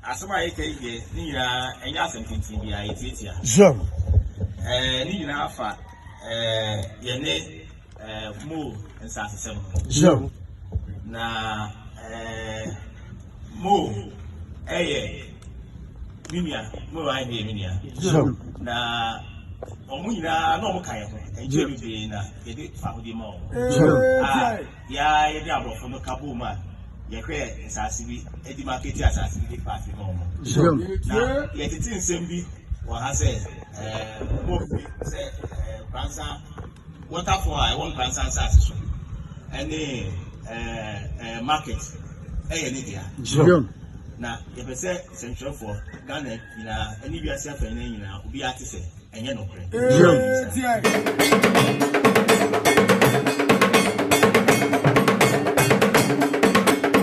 Asɛm a yɛka yi deɛ ne nyinaa ɛnyɛ asɛm tenten bi a yɛtiatia. Sure. Ɛɛ ne nyinaa fa ɛɛ yɛne ɛɛ mo nsasesɛm no. Sure. Na ɛɛ mo ɛyɛ me nua mo wa ɛyɛ me nua. Sure. Na wɔn nyinaa na wɔn ka yɛn ho ɛnkyɛn bebree na yɛde fa ho di ma wɔn. Sure. Ah. Yɛ ara yɛ ne aborɔfo no ka boom a yɛ hwɛ nsaase bi ɛde makɛti asaase bi de paati ma ɔmo. Na yɛ tete nsɛm bi wɔ ha sɛ ɛɛ ɔmo ɔfi sɛ ɛɛ nkransa wɔtafo a ɛwɔ nkransa nsaase so ɛne ɛɛ ɛɛ market ɛyɛ ne dea. Na yɛ pɛ sɛ sɛntwerɛfoɔ Ghana nyinaa ɛne wiase afɛn nyinaa obi ate sɛ. Ɛnyɛ nokorɛ.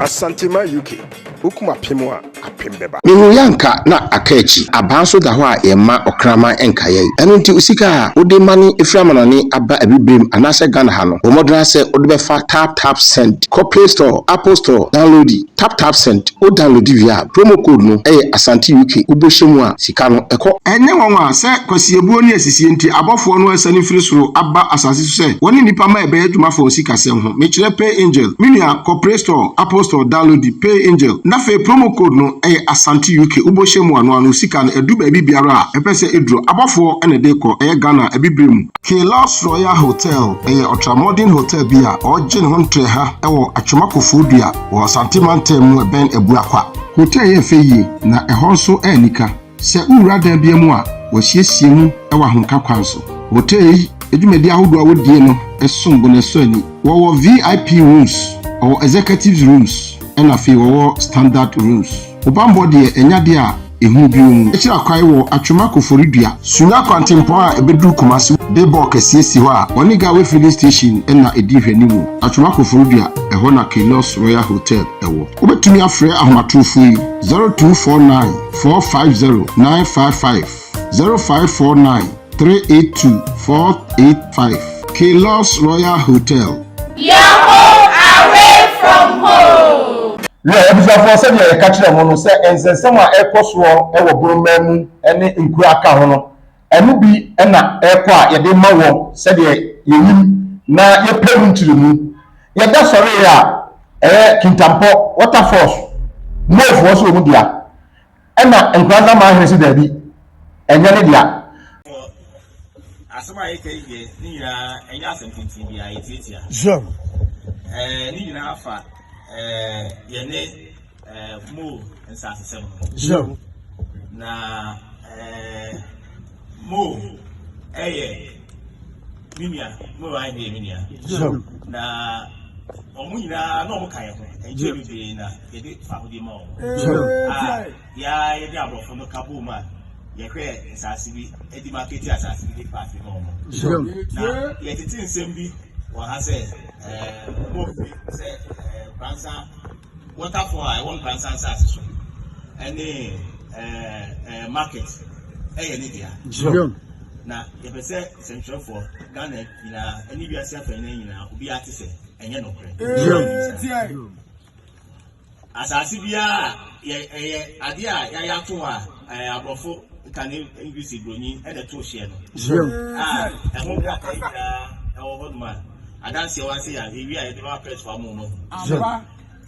Asantema UK, Wokum apem a, apem bɛba. Mehu yɛ anka na aka akyi. Abaa nso da hɔ a yɛmma ɔkraman nka yɛn. Ɛno nti wo sika a wode mane firi amanɔne aba abibirem anaasɛ Ghana ha no, bɔ mmɔdena sɛ wode bɛfa tap tap send. Kɔ play store, apple store, downloadi. TapTapSend, wo download wie a promo code no yɛ Asante UK wo bɔhyɛ mu a sika no kɔ. Ɛnyɛ nwanwa sɛ kwasiabuo ne asisie nti abɔfoɔ no asiane firi soro aba asase so sɛ wɔne nnipa ma ɛbɛyɛ adwuma fa wo sikasɛm ho. Mekyerɛ PayAngel. Me nua kɔ Play Store, Apple Store downloadi PayAngel na afei promo code no yɛ Asante UK wo bɔhyɛ mu a noa no wo sika no adu baabi biara a ɛpɛ sɛ ɛduro. Abɔfoɔ na ɛde kɔ, ɛyɛ Ghana abibire mu. Quai Lars Royal Hotel yɛ ɔtramɔden hotel bi a ɔregye ne ho ntrɛ ha wɔ Atwoma Kofoɔdua wɔ Asante Mantam mu ɛbɛn Abuakwa. Hotel yɛ fɛ yie na ɛhɔ nso anika. Sɛ wowura dan bia mu a, wɔasiesie mu wɔ ahomka kwan so. Hotel yi dwumadie ahodoɔ a wɔdie no som bo na ɛsɔ ani. Wɔwɔ VIP rooms, wɔwɔ executives rooms ɛna afei wɔwɔ standard rooms. Wo bammɔ deɛ ɛnyɛ adeɛ a ɛhunu bio mu. Akyiri akwae wɔ Atwema Koforidua. Sunya kwantempɔn a ɛbɛduru Kumasi de bɔɔ kɛseɛ si hɔ a wɔne Gawe Filling Station na ɛdi nhwɛanimu. Atwema Koforidua, ɛhɔ na Kailos Royal Hotel wɔ. Wobɛtumi afrɛ ahomatorofoɔ yi, 0249 450 955. zero five four nine three eight two four eight five Keylus Royal Hotel. Your home away from home. Yɛ abusuafoɔ sɛdeɛ yɛka kyerɛɛ mo no sɛ nsɛnsɛm a ɛrekɔ soɔ wɔ Borɔmaa mu ne nkuro a aka ho no, ɛno bi na ɛrekɔ a yɛde rema wɔ sɛdeɛ yɛnim na yɛpɛ mu nkyerɛmu. Yɛda sɔree a ɛyɛ Kintampo Waterfalls, Moofoɔ nso wɔn dea, Ɛna Nkoranza man hene se daabi, ɛnyɛ ne dea. Wɔ asɛm a yɛka yi deɛ, ne nyinaa ɛnyɛ asɛm tenten biara, yɛtiatia. Sure. Ɛɛ, ne nyinaa fa ɛɛ yɛne ɛɛ mo nsasesɛm ho. Sure. Na ɛɛ mo ɛyɛ me nua, mo ayɛ deɛ me nua. Sure. Na wɔn nyinaa na wɔn ka yɛn ho, ɛnkyɛ bebree na. yɛde fahodie ma wɔn a yɛa yɛde aborɔfo no ka bɔɔ mu a yɛhwɛ nsaase bi ɛdi ma kete asaase bi de paase ma wɔn na yɛtete nsɛm bi wɔ ha sɛ ɛɛ mɔfi sɛ ɛɛ kwansa wɔtafo a ɛwɔ nkwansa nsaase so ɛne ɛɛ ɛɛ market ɛyɛ ne dea na yɛpɛ sɛ sɛntwerɛfoɔ ghana nyinaa ɛne wiase afɛ nyinaa obiara te sɛ ɛnyɛ nokorɛ Asase biara a yɛ ɛyɛ adeɛ a yɛayɛ ato hɔ a ɛɛ aborɔfo kane English broni ɛna ɛto hyɛ no. Yam. A ɛho nkrataa nyinaa ɛwɔ hɔ nom a adanseɛ wa se a ewie a yɛde bɛma prɛsfo ama wɔn ahu. Yam.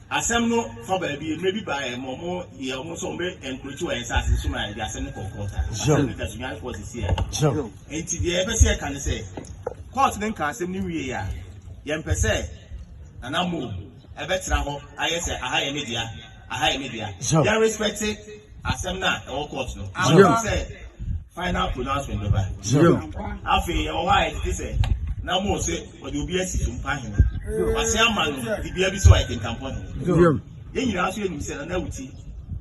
Asɛm no fa baabi mmerɛ bi baa yɛn ma wɔn yɛ wɔn nso wɔn bɛ ɛnkurokyi wɔ yɛn nsaase nso ma yɛde asɛm no kɔɔ kɔɔt a. Asɛm no da so nyane kɔɔ sisi a. Yam. Nti deɛ yɛpɛ sɛ yɛka ne sɛ kɔɔt no nka asɛm no wie a yɛmpɛ sɛ nana mo Ɛbɛtra hɔ ayɛ sɛ aha yɛ me dea, aha yɛ me dea. Yɛ respect asɛm no a ɛwɔ court no. Afei sɛ final pronouncement bɛba. Afei ɛwɔ hɔ a ɛtete sɛ na mo se wɔde obi asi so mpa hene. Wase ama no dibea bi sɛ ɔyɛ kentampɔ hene. Yɛn nyinaa nso yɛnim sɛ Nana Awuti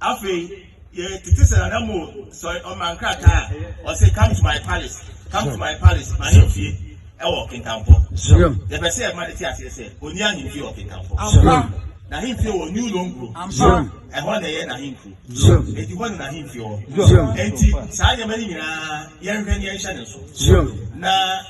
Afei, yɛtete sɛ Nana Mo sɔre ɔma nkrataa a ɔse come to my palace, come to my palace, m'ahemfie ɛwɔ Kintampo. Yɛpɛ sɛ yɛma no te aseɛ sɛ ɔnni ahemfie wɔ Kintampo. N'ahemfie wɔ New Longro. Ɛhɔ na ɛyɛ n'ahenkuro. Enti hɔ na n'ahemfie wɔ. Enti saa nneɛma no nyinaa yɛnhwɛ ne yɛnhyɛ ne nso. Na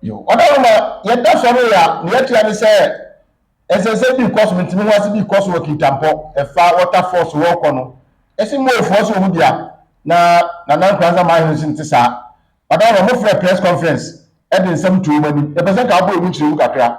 Yo, ɔda no ma yɛda sɔre yɛ a, nea ɛkyerɛ ne sɛ nsɛnsɛm bi rekɔ so, ntini ho ase bi rekɔ so wɔ Kintampɔ, ɛfa Waterfall so wɔrekɔ no. Yɛse Moefoɔ nso wɔ mu dea, na Nana Nkoranza Maahene nso nte saa. Ɔda no ma mofrɛɛ press conference de nsɛm too wɔn anim. Yɛpɛ sɛ nka wobɔ emu nkyerɛmu kakra.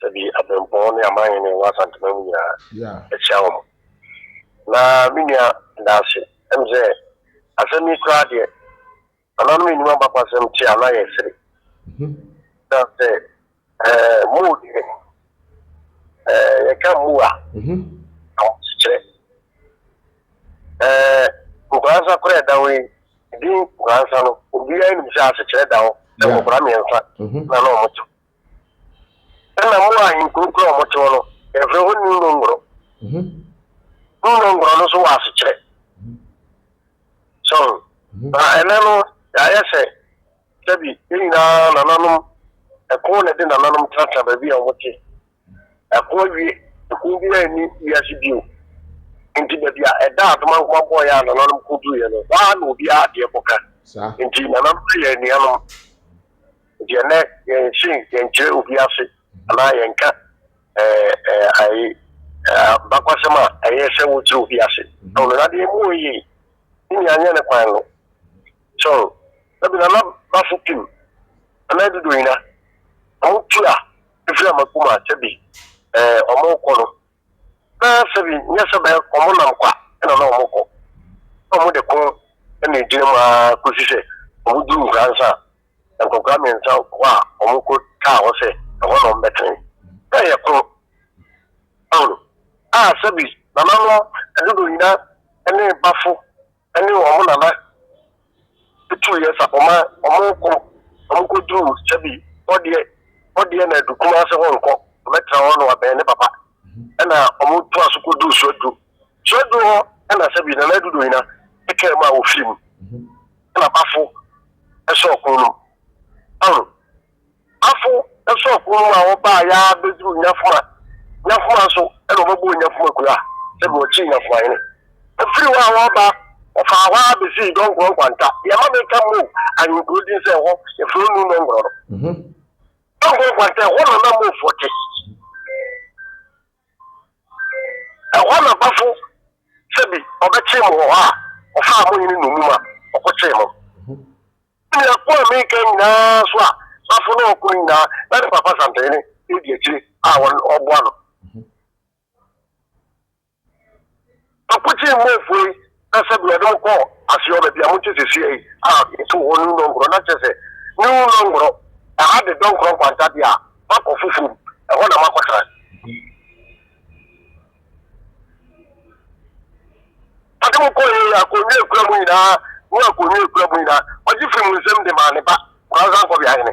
Dabi, abirɛmpɔn ne amanhene wɔ Asantema mu nyinaa, ɛkyea wɔn. Na me nua, da ase. Ɛne sɛ, asɛm yi koraa deɛ, nananom nnim abakwasɛm te a na yɛresere. Na sɛ muu deɛ, yɛka muu a, ahosekyerɛ. Nkoransa koraa ɛda hɔ yi, din nkoransa no, obiara nim sɛ asekyerɛ da hɔ, sɛ nkokora mmiɛnsa na na wɔte hɔ. Ɛna mo a nkuronkuro a wɔte hɔ no, yɛfrɛ hɔ New Nongoro. New Nongoro no nso wɔ asekyerɛ. So, na ɛnɛ no, yɛayɛ sɛ, sɛbi, yɛn nyinaa nananom, ɛko na ɛde nananom tenatena baabi a wɔte. Ɛko awie, ɛko biara nni wiase bio. Nti baabi a ɛda adomankoma bɔeɛ a nananom kɔduruiɛ no, hɔ ara na obiara adeɛ kɔka. Nti nananom yɛ anuanom. Deɛ nɛ yɛn se yɛn kyerɛ obi ase anaa yɛn ka ɛɛ bakwasɛm a ɛyɛ sɛ wo kyerɛ obi ase. Ɛwɔ no na deɛ mu wɔ yie ne nyɛ anyɛ ne kwan no. So ɛbi na na bafo pim ɛna ɛdodo yina ɔmo tua efiri amakuma sɛbi ɛɛ ɔmo kɔ no na sɛbi nyɛ sɛ bɛ ɔmo nam kwa ɛna na ɔmo kɔ ɔmo de ko ɛna egyina mu aa kosi sɛ ɔmo duru nkransa Nkwakoraa mmiɛnsa hɔ a wɔko taa hɔ sɛ ɛhɔ na wɔbɛtene. Sɛ yɛ koro Paulo a sɛbi nananom dodoɔ nyina ne bafo ne wɔn nana tuu yɛ sa wɔma wɔko wɔko duru sɛbi hɔ deɛ hɔ deɛ na adu Kumase hɔ nkɔ wɔbɛtena hɔ na wɔabɛn ne papa ɛna wɔtoa so kɔ duru so aduru So aduru hɔ na sɛ bi Nana Adu Dohina kaa mu a wɔfiri mu na Bafo sɔ ɔko no mu. Ɔho, Bafo sɔ ɔko no mu a wɔbaa yɛa bɛduru Nyafoma. Nyafoma nso na wɔbɛbɔɔ Nyafoma kuro a sɛ bi wɔkyee Nyafoma hene. Ɛfiri hɔ a wɔba wɔfaa hɔ a bɛsii Dɔnkorɔ Nkwanta. Deɛ ɛma meka Mo ahenkuro din sɛ ɛhɔ yɛfrɛ Onu Nɔngorɔ no. Dɔnkorɔ Nkwanta ɛhɔ na na Mofoɔ te. Ɛhɔ na bafo sɛbi ɔbɛkyee mo wɔ hɔ a, ɔfaa mo hene nnommum a, ɔko kyee mo. Ne nea ko a mereka nyinaa so a bafo no ɔko no nyinaa, na ne papa Santehene edi akyire a ɔboa no. Ɔkotee Mofoɔ yi na sɛdeɛ ɔde mo kɔɔ aseɛ baabi a mote seesei yi a yɛtoo hɔ New Nongoro, na kyerɛ sɛ, New Nongoro, ɛha de Dɔnkorɔ Nkwanta deɛ a, moakɔ foforɔ mu, ɛhɔ na moakɔtena. Ɔde mo kɔeɛ yi, akonnwa a ɛkura mo nyinaa ne akonnwa a ɛkura mo nyinaa, ɔgye firii mo nsam de maa ne ba, Nkoranzankɔbea Hene.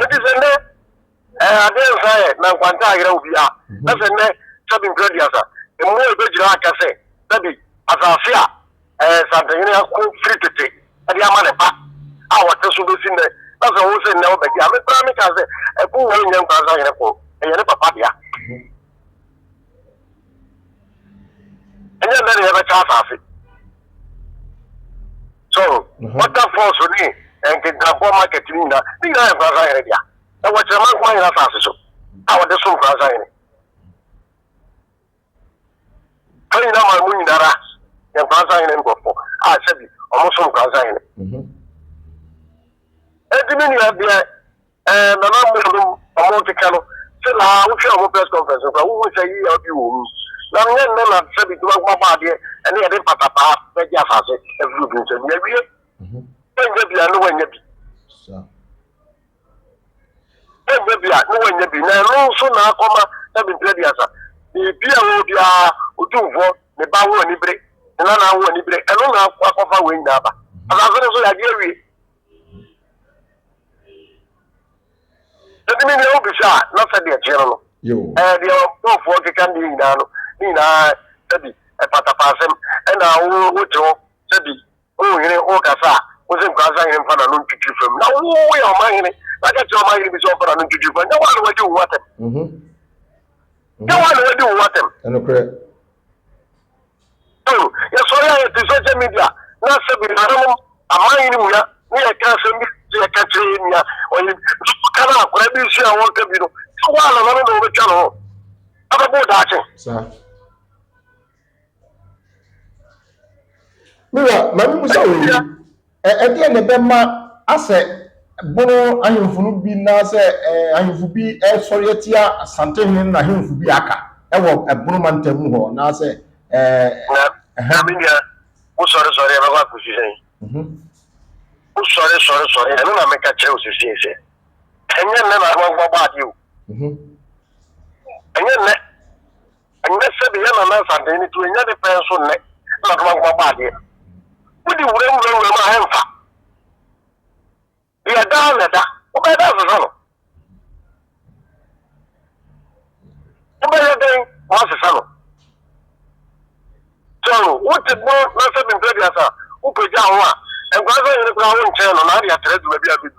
Nti sɛ nnɛ ɛɛ adeɛ nsa yɛ na nkwanta ayera wo bi a, na sɛ nnɛ sɛbi nkura di asa, mmoa ɛbɛgyina aka sɛ sɛbi asase a ɛɛ Santehene ako firi tete ɛde ama ne ba a wɔte so bɛsi nnɛ, na sɛ wo se nnɛ wo bɛgye a, me koraa me kaa sɛ ɛko wɔ nyɛ nkura sahene ko, ɛyɛ ne papa dea. ɛnyɛ nnɛ na yɛbɛkyɛ asase so mhm. waterfalls ne nkenkabɔ market no nyina ne nyinaa yɛ nkoransa hene dea ɛwɔ kyerɛma nkoma nyina asase so a wɔde so nkoransa hene fa nyina ma mu nyinara yɛ nkoransa hene nkurɔfo a sɛbi ɔmo so nkoransa hene ɛdi mhm. ne nua deɛ Ɛɛ nana mmom no ɔmo keka no sɛ na wotwɛn ɔmo press conference no koraa wohu sɛ yiyaw bi wɔ mu na nyɛ nnɛ na sɛ bi dwuma nkoma bɔ adeɛ ɛne yɛde mpatapaa bɛgye asase afiri obi nsam yɛwie wanya bi a ne wanya bi wanya bi a ne wanya bi na ɛno nso na akɔma sɛ bi mpira bi asa biribi a wɔ biara otumfoɔ ne ba ho anibere ne nana ho anibere ɛno na akɔfa wei nyinaa ba asase no so yɛagye awie Ɛde mi deɛ wobisa a na sɛdeɛ ɛteɛ no no ɛɛ deɛ ɔbɔfoɔ nkeka nneɛ nyinaa no ne nyinaa sɛbi ɛpatapaasɛm ɛna wo wote hɔ sɛbi wohene wokasa a wose nkurasa hene mfa n'ano ntwitwi fam na wo woyɛ ɔma hene na ka kyerɛ ɔma hene bi sɛ ɔmfa n'ano ntwitwi fam nyɛ woa na wadi wo ho atɛm nyɛ woa na wadi wo ho atɛm ɛnokorɛ Bio, yɛsɔre a yɛte social media na asɛ bi nananom aman yi no mua ne yɛka asɛm bi sɛ yɛka kyerɛ yɛn nua ɔyɛ bi ka no akora bi nsi a wɔka bi no sɛ wo a nananom na wɔbɛtwa no ho abɛbɔ daakye. Mewa, ma me musa wei. Ɛdeɛn na ɛbɛma asɛ Bono ahemfo no bi naa sɛ ahemfo bi sɔre atia Asante hene no na ahemfo bi aka wɔ Bono mantam mu hɔ naa sɛ. Na, na me nua, wo sɔre sɔre ɛbɛkɔ akɔsi sɛn? Wo sɔre sɔre sɔre, ɛno na meka kyerɛ wo sesie sɛ, ɛnyɛ nnɛ na amanfoɔ bɔ adeɛ o. Ɛnyɛ nnɛ. Ɛnyɛ sɛdeɛ yɛn nana Nsantee no tu, ɛnyɛ ne pɛn so nnɛ na Adomankoma bɔ adeɛ. Wode wura nwura nwura mu a ɛmfa. Deɛ ɛda ara na ɛda. Wobɛyɛ dɛn asesa no? Wobɛyɛ dɛn woasesa no? Sɛ no, wote bo na sɛ bimprɛ deɛ asa, wopagya ho a, nkwadaa sɛ yere koraa wonkyɛn no na ade atrɛ adwuma bi abɛdu.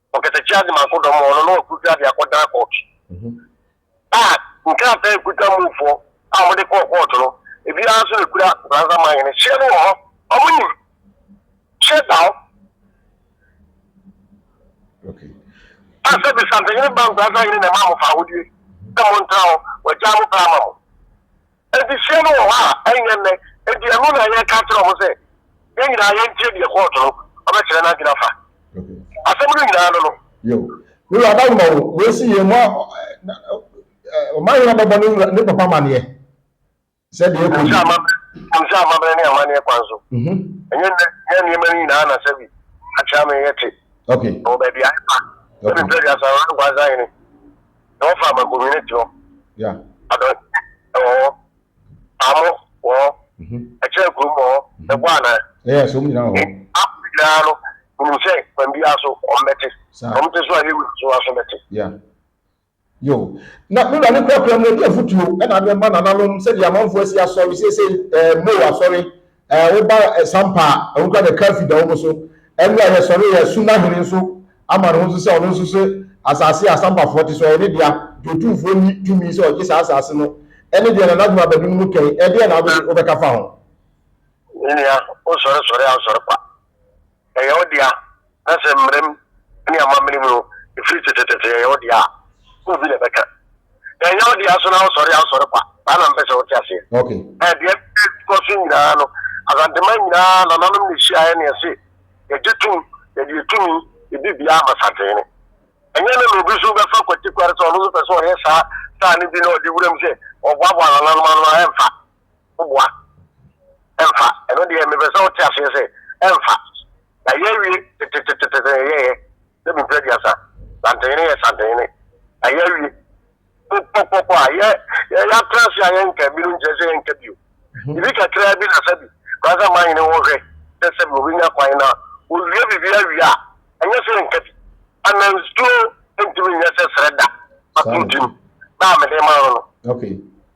ɔkɛsɛ kyia dze ma akodɔm hɔn no na ɔkor fia dze akɔdan kɔɔt a nkrataa ekuta mufoɔ a wɔde kɔɔ kɔɔt no ebiara nso na ekura Fransa man hene hyɛ no wɔ hɔ wɔn nim hyɛ da hɔ a sɛ bisantehene ba nkurasa hene na ɛma mo fa ahodie sɛ mo ntra hɔ wɔagya mo pɛ ama mo Adesua no wɔ hɔ a, ɛnyɛ nnɛ. Enti ɛno na yɛka kyerɛ wɔn sɛ yɛn nyinaa yɛntie deɛ kɔɔto no bɛkyerɛ n'adwene afa asɛm no nyinaa no no. Yo, me wura da woma o, wei se yɛ mo Ɔmanhene bɛbɔ ne wura ne papa amaneɛ sɛ deɛ ɛkɔ ni. Nim sɛ amammerɛ ne amaneɛ kwan so, ɛnyɛ nnɛ yɛ nneɛma no nyinaa na sɛ bi akyɛ ameyɛ te wɔ baabi a ɛfa. Sɛ me mpɛ aduasa, Ɔhene Nkwa-Nsa-Hene. na wɔfa ama community hɔ adɔnkyɛ wɔ hɔ paamo wɔ hɔ mhm. ɛkyerɛ kurom wɔ hɔ mhm. ɛbɔ anaa ɛyɛ so nyinaa wɔ hɔ nyinaa no nim sɛ kwan biara so ɔmbɛte ɔmte so a yɛwu so aso bɛte yo na mewura ne kurakura mu ɛde afotuo ɛna de ma nananom sɛdeɛ amanfoɔ asi asɔre seesei ɛɛ eh, mo asɔre Ɛɛ woba Sampa a, ɛho kora na Kaffi da wɔn so. Ɛnna ɛyɛ sɔre yɛ Suna hene nso ama ne ho so sɛ ɔno nso se asase a Sampafoɔ te so ɔyɛ ne dea. Dwotumfoɔ nni tumi sɛ ɔgye saa asase no. Ɛne deɛ Nana Juma Badu no mu kɛn. Ɛdeɛn na wobɛka fa ho? Me nua, wosɔre sɔre a wosɔre kwa. ɛyɛ wo dea, na sɛ mmara mu ne amammerɛ mu no, ɛfiri tetetete ɛyɛ wo dea a, wo bi na ɛbɛka. Na ɛnyɛ wo dea so na wosɔre a wosɔre kwa, saa na mepɛ sɛ wote aseɛ. Okay. Ɛɛ, deɛ ɛkɔ so nyinaa no, Asanteman nyinaa nananom na ɛhyiaeɛ na yɛse yɛgye tom, yɛde yɛ tumi di dea ama Santehene. Ɛnyɛ ɛnnɛ na obi nso bɛfa kwatikwar sɛ ɔno nso pɛ sɛ ɔyɛ saa saa no bi na ɔde wuram sɛ ɔboaboa nananom ano a, ɛmfa. woboa ɛmfa ɛno deɛ mepɛ sɛ wote aseɛ sɛ ɛmfa na yɛawie tetetetete yɛyɛ ne bupra aduasa santene yɛ santene na yɛawie pɔpɔpɔ a yɛ yɛatra se a yɛnka bi no nkyerɛ sɛ yɛnka bio mhm. ebi kakraa bi na sɛ bi kora sɛ ma nyene wɔhwɛ sɛ sɛ bi obɛnya kwan na ɔwie biribi awie a ɛnyɛ sɛ yɛnka bi anansuo ntumi nyɛ sɛ serɛ da atontim na mede ma no no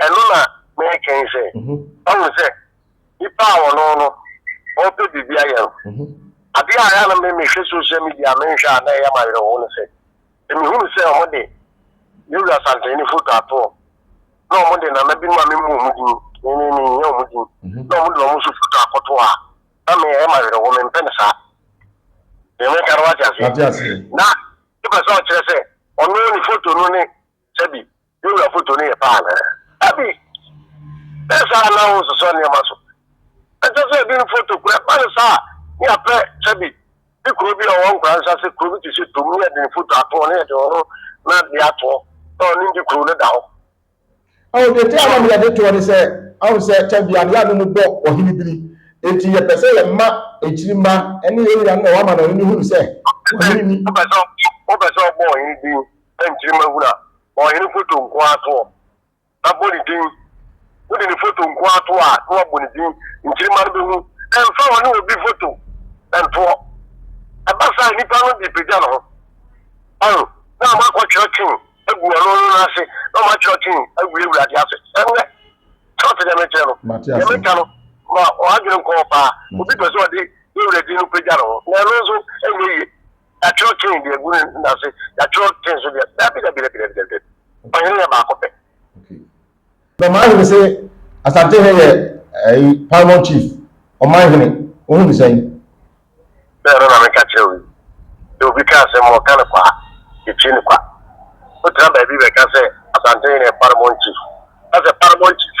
Ɛno na mereka yi sɛ, wahu sɛ nnipa a wɔne wo no, wɔpɛ biribi ayɛ no. Adeɛ a ɛyɛ a na me mehwɛ social media a menhwɛ a na ɛyɛ me awerɛhow ne sɛ, sɛ mehunu sɛ wɔde Yowura Santani ne foto atoɔ, na wɔde nana binom a memmɔ wɔn din, me me menhia wɔn din, na wɔde wɔn nso foto akɔto hɔ a, na me ɛyɛ me awerɛhow, mempɛ no saa. Deɛ mereka no wate aseɛ? Na Wopɛ sɛ ɔkyerɛ sɛ ɔno ne foto no ne Sɛbi, yɛn wura foto no yɛ pɛ anaa? Dabi! Ɛnyɛ saa na wonsosɔ nneɛma so. Ɛnsɛ sɛ yɛde ne foto kura. Ɛba no saa a, na yɛapɛ, sɛbi, ne kuro bi a ɔwɔ nkuranhyɛ ase, kuro bi te sɛ Tum, na yɛde ne foto ato hɔ, na yɛde ɔno n'adeɛ ato hɔ, na ɔno nti kuro no da hɔ. Ɔho, deɛ enti a na meyɛ de toɔ ne sɛ, ahu sɛ Sɛbi a, ne yaanom mu bɔ ɔhene biri, enti yɛpɛ sɛ yɛn mma akyiri mma ne yɛn nuanom a wɔama no ɔhene no hunu sɛ ɔhene ni. Wopɛ sɛ ɔbɔ ɔhene biri? na nkyirimma hunu a, ma ɔhene foto nko ara to hɔ, na bɔ ne din. Wode ne foto nko ara to hɔ a, na wabɔ ne din. Nkyirimma no bɛhu. Ɛmfa ɔne obi foto nto hɔ. Ɛba saa a, nipa no de pagya ne ho. Ɔho, na wɔakɔ twerɛ twen agu ɔno no nan ase, na wɔatwerɛ twen awie Awurade ase. Ɛnnɛ, sɛ ɔte deɛ mekyerɛ no, deɛ meka no, ma w'adwene nkɔ hɔ paa. Obi pɛ sɛ ɔde Yawurɛ din no pagya ne ho, na ɛno nso ɛnyɛ yie. Yɛatwerɛ Kain deɛ agu ne nan ase, yɛatwerɛ Kain nso deɛ. Dabi, dabi, dabi, dabi, dabi, dabi. Ɔhene yɛ baako pɛ. Na ɔman hene se Asante he yɛ ɛyi paramount chief ɔman hene wohu ne sɛn? Sɛ ɛno na meka kyerɛ wo yi. Sɛ obi ka asɛm ma ɔka no kwa a, yɛtie no kwa. Wotra baabi bɛka sɛ Asante hene yɛ paramount chief, na sɛ paramount chief.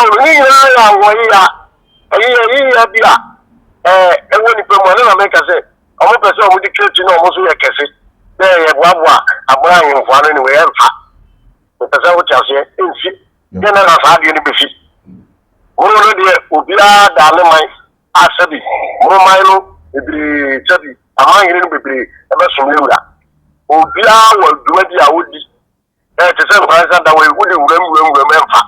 Ɔn, ne nyinaa yɛ awɔyea. Ɛyi yɛ ayiyɛ bi a ɛɛ ɛwɔ nipa mu. Ɛno na meka sɛ wɔn pɛ sɛ wɔn de twa ti na wɔn nso yɛ kɛse. Dɛ yɛboaboa abena ahemfo ano ne wei ɛmfa. Mepɛ sɛ wote aseɛ ɛnsi. Dɛ na na saa adeɛ no bɛsi. Wɔn no deɛ obiara daa ne man a sɛbi wɔn man no bebree sɛbi aman hene no bebree ɛbɛsom ne wura. Obiara wɔ dwumadi a ɔdi. Ɛɛ te sɛ nkwadaa nsa da wɔ wode wuram wuram wuram ɛmfa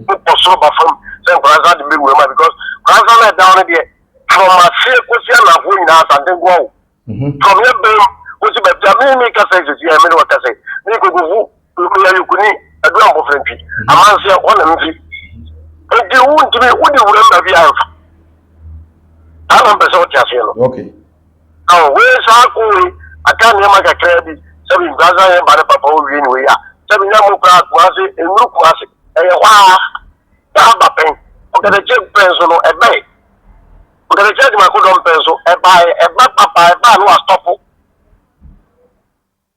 wokɔ soro ba fam sɛ nkwadaa nsa de bɛ wuram a because nkwadaa nsa na ɛda wo no deɛ from aseɛ kɔsi anafoɔ nyinaa asante nkoa o mhm. from yɛ bɛm kɔsi baabi a me me kasa sisi yɛ me de wɔ kasa me kokofu meyɛ yokuni adu abɔfra mfi mhm. amanseɛ wɔn na mfi nti wo ntumi wode wuram baabi a ɛmfa saa na mpɛ sɛ wote aseɛ no okay Ɔ wei so ako wei aka nneɛma kakraa bi sɛ bi nkura sɛ yɛn ba ne papa owie ne wei a sɛ bi na mo kura akoma ase nnuru kuma ase ɛyɛ hɔ a na aba pɛn ɔkɛtɛkyɛ pɛn so no ɛbɛn ɔkɛtɛkyɛ adwuma kodɔm pɛn so ɛba ɛba papa ɛba no astɔpo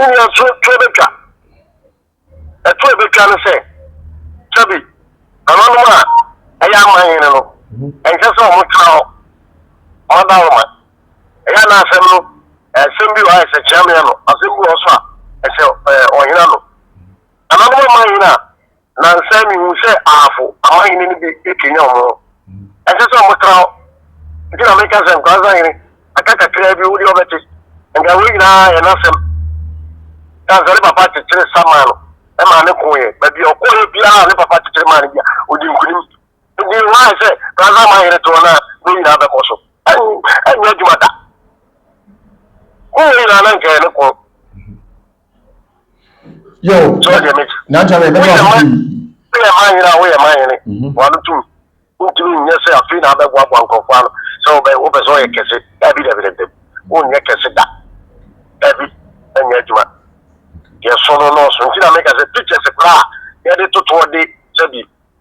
Wo wura so tuo bɛtwa. Ɛto a ɛbɛtwa ne sɛ, sɛbi nananom a ɛyɛ aman hene no, ɛnsɛ sɛ wɔtena hɔ, wɔada wɔn ma. Ɛyɛ na asɛm no, asɛm bi wɔ hɔ a ɛsɛ kyeameɛ ano, asɛm bi wɔ hɔ nso a ɛsɛ ɔhene ano. Nananom aman hene a Nansa mihun sɛ ahafo amahene no bi rekanyan wɔn ho. Ɛnsɛ sɛ wɔtra hɔ. Enti na meka sɛ, 'Nkoranza hene, aka kakraa bi, wo deɛ wobɛte. Anka wei nyinaa yɛ n'asɛm. Kansa ne papa kyekyere sa maa no maa no koeɛ. Baabi a ɔkɔeɛ biara a ne papa kyekyere maa no bi a, ɔdi nkonim. Enti hwan ayɛ sɛ Koranza amahene toɔ no a wei nyinaa bɛkɔ so? Ɛrenyɛ adwuma da. Ho wei nyinaa na anka ɛyɛ ne kɔn. yo nantwa bɛ bɛtɔ ase pii woyɛ ma hene a woyɛ ma hene wano tum wontumi nyɛ sɛ afei na abɛboaboa nkurɔfo ano sɛ wopɛ sɛ ɔyɛ kɛse dabi dabi dabi wonyɛ kɛse da dabi ɛnyɛ adwuma yɛso no nɔɔso nti na meka sɛ pictures koraa yɛde totoɔ de sɛbi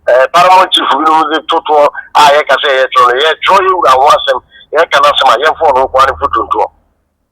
eh, paramount chief binom de totoɔ a yɛka sɛ yɛtwerɛ no yɛtwerɛ yɛwura ho asɛm yɛka no asɛm a yɛmfoɔ no nkoa no fotontoɔ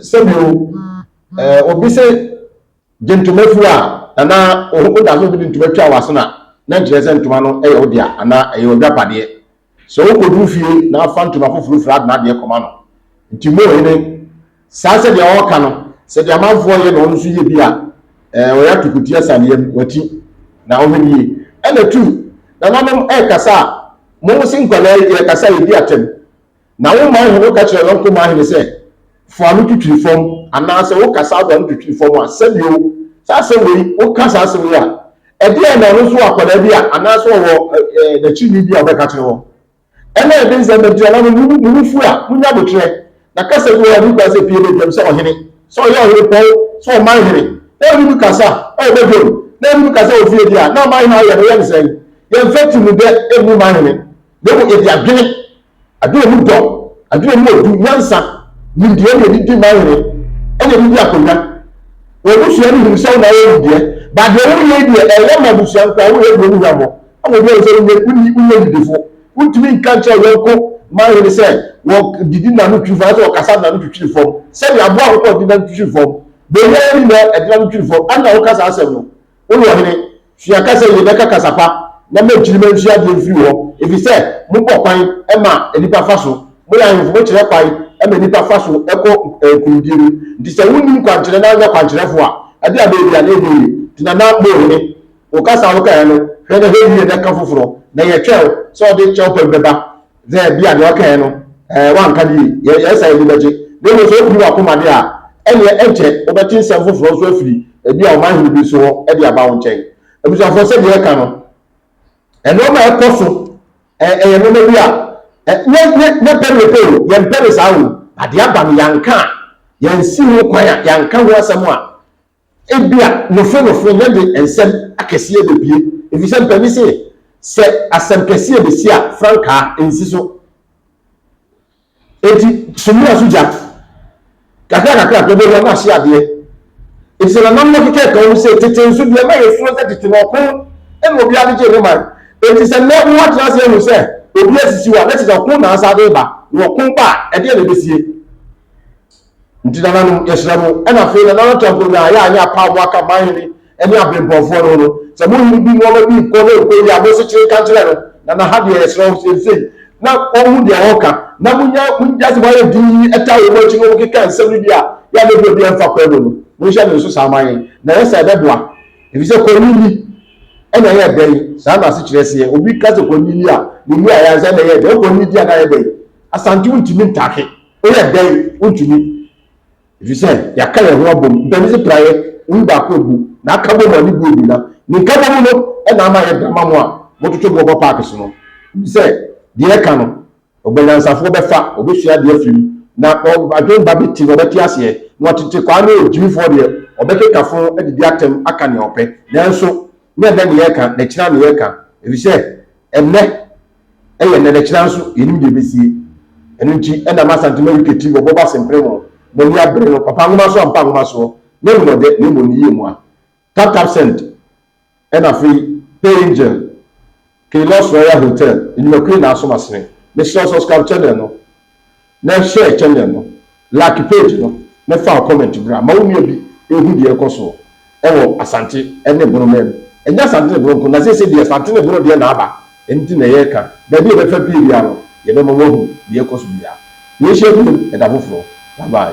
Sɛbio, eh, obi se gye ntoma fi wo a, na na wo da so de ntoma twa w'asen a, na nkyerɛ sɛ ntoma no yɛ wo dea anaa ɛyɛ w'adwapadeɛ. Sɛ wokoduru fie na afa ntoma foforo fira de n'adeɛ kɔma no. Nti mo hene, saa sɛdeɛ ɔɔka no, sɛ deɛ amanfoɔ yɛ na ɔno nso yɛ bi a, eh, ɔyɛ atukuti asan yam, wati. Na wohwɛ no yie. Ɛna tu, nananom ɛɛkasa a, mo se nkwadaa yi yɛɛkasa a yɛdi atɛm. Na wo man hene ka kyerɛ no kumaa hene sɛ, Fo ano twitwiri fam, anaasɛ woka saa do ano twitwiri fam a, sɛdeɛ o, saa asɛm wei, woka saa asɛm wei a, ɛdeɛn na ɔno nso wɔ akwadaa bi a, anaasɛ ɔwɔ ɛɛ n'akyidini bi a ɔbɛka kyerɛ wɔn? Ɛna ɛde nsɛm bɛto yɛn, na mo mu, mo mu fu a, monya aboterɛ. Na kasa bi wɔ hɔ a, ɛni kwan sɛ pie badwam sɛ ɔhene, sɛ ɔyɛ ɔhene pɔw, sɛ ɔman hene, na ɛni mu kasa a, ɔwɔ badwam, na ɛni mu kasa wɔ fie deɛ a, na ɔman hene ayɛ no, yɛ no sɛn? Yɛmfa ti mu dɛ mmu man hene, na mmom yɛde adwene Adwene mu dɔ, adwene mu odu, nyansa, nimdeɛ ne anigye ma yere ɛna ɛde di akonnwa. Wɔn abusua no hunu sɛ wo na woyɛ wo deɛ. But deɛ woyɛ yi deɛ, ɛyɛ ma abusua nkoa, woyɛ deɛ wohu hwammɔ. Ama obi ahu sɛ wonyɛ, wonni, wonyɛ nidifo. Wontumi nka nkyerɛ yɔnko man hene sɛ wɔdidi na ano twiri fam anaasɛ wɔkasa na ano twitwiri fam. Sɛdeɛ aboa akokɔ de n'ano twitwiri fam, bɔnwoma yɛ ne nyinaa ɛde n'ano twitwiri fam. Ɛnna woka saa asɛm no. Woyɛ ɔhene, sua kasa yie, na ka kasa pa, na ma nkyirimma nsua adeɛ mfiri wo hɔ, ɛfiri sɛ mobɔ kwan ma nnipa fa so, moyɛ ahemfo, mokyerɛ kwan ma nnipa fa so kɔ nkonimdie mu. Nti sɛ wonni nkwankyerɛ na wonyɛ kwankyerɛfoɔ a, ɛdeɛn bɛyɛ bi a, na ɛnyɛ yie. Nti na na mo hene, wo kasa a wokaeɛ no, hwɛ na hwɛ yie na ka foforɔ, na yɛtwɛn wo sɛ wode kyɛwpam bɛba Sɛ ebi a deɛ ɔkaeɛ no ɛɛ wanka de yɛ yɛ sɛ ani bɛgye na mmom sɛ opiri w'akoma de a ɛneɛ ɛnkyɛ wobɛte nsɛm foforɔ nso afiri ebi a ɔman hene bi nso hɔ de aba wo nkyɛn abusuafoɔ sɛ deɛ ɛka no nnoɔma a ɛkɔ so ɛɛ ɛyɛ nnoɔma bi a ɛ nyɛ nyɛ nyɛ pɛrepɛ o yɛn pɛre saa o adeɛ aba no yɛanka a yɛnsi ho kwan a yɛanka ho asɛm a Ebia nofronofo no de nsɛm akɛseɛ bɛpue, ɛfiri sɛ mpanin se, Sɛ asɛm kɛseɛ bɛsi a, frankaa nsi so. Enti sumina so gya. Kakrakakra pɛ, bɛhua no ahye adeɛ. Enti sɛ nananom no keka ka wɔn se, Tete nso, deɛ na yɛsuro sɛ tete no, ɔko na obiara de gyee ne man. Enti sɛ nnɛ moatena ase ahu sɛ obi asisiw a, na kyerɛ sɛ ɔko na asan de reba. Na ɔko ba a, ɛdeɛn na ɛbɛsie? Nti nananom, yɛsrɛ mo, ɛna afei na Nana Tanko Nyaa yɛ a nyɛ apaa mo aka man hene ɛne abirempɔnfoɔ no ho no, sɛ mo hene bi nnoɔma bi nkɔ na ɛnkɔ yie a, mo nsekyere nka nkyerɛ no, na na ha deɛ yɛsrɛ wo seisei na ɔhu deɛ ɔreka, na mo nya, mo ngya sɛ mo ayɛ dinn yi ɛtaa wɔ mo akyi na ɔmo keka nsɛm no bi a, yɛ a na ɛbi obiara mfa kwan mu no, mo nhyɛ no nso saa ma yɛn, na ɛyɛ saa ɛbɛboa, efisɛ kwanini ɛna ɛyɛ dɛn, saa na asekyerɛ seɛ, obi ka sɛ kwanini a, ne mmuaeɛ ara ne sɛ ɛna ɛyɛ dɛn, wokɔ nini di a na ayɛ dɛn, Asante wontumi ntake. Woyɛ dɛn? Wontumi, ɛfiri sɛ yɛaka yɛn ho abom. Ntɛm se praeɛ, woyi baako agu, na aka bom a ne bu agu, na ne nkabom no na ama ayɛ dama mo a mototo boɔ bɔ paake so no. Nim sɛ deɛ ɛka no, ɔbanyansafoɔ bɛfa, ɔbɛsua adeɛ afiri mu, na adwene ba bɛtim, ɔbɛte aseɛ, na ɔtete kwaa ne ɔgyimifoɔ deɛ, ɔbɛkeka fo adidi atɛm aka nea ɔpɛ. Nanso, nyɛ ɛnnɛ na yɛreka, na akyire ara na yɛreka, ɛfiri sɛ ɛnnɛ. Ɛyɛ nnɛ na kyena nso yɛnim deɛ ɛbɛsie. Ɛno nti na ma Asante ma UK TV ɔbɔbɔ asempere mo, mo ani abere no, papa nwoma so ampa nwoma soɔ, nyɛ nnɔdɛ na mmom ne yie mua. Tap tap send ɛna afei pay angel K-loss royal hotel nnwumakuo nyinaa so masene. Mesrɛ wo subscribe channel no. Na share channel no, lake page no na fa wo comment bra ma wo nua bi nhu deɛ ɛrekɔ soɔ wɔ Asante ne Bono man mu. Ɛnyɛ Asante ne Bono nko na seesei deɛ Asante ne Bono deɛ na aba nti na yɛreka. Baabi a ɛbɛfa pue biara no yɛbɛma woahu deɛ ɛrekɔ so biara. Yɛnhyia bio ɛda foforɔ. Bye bye.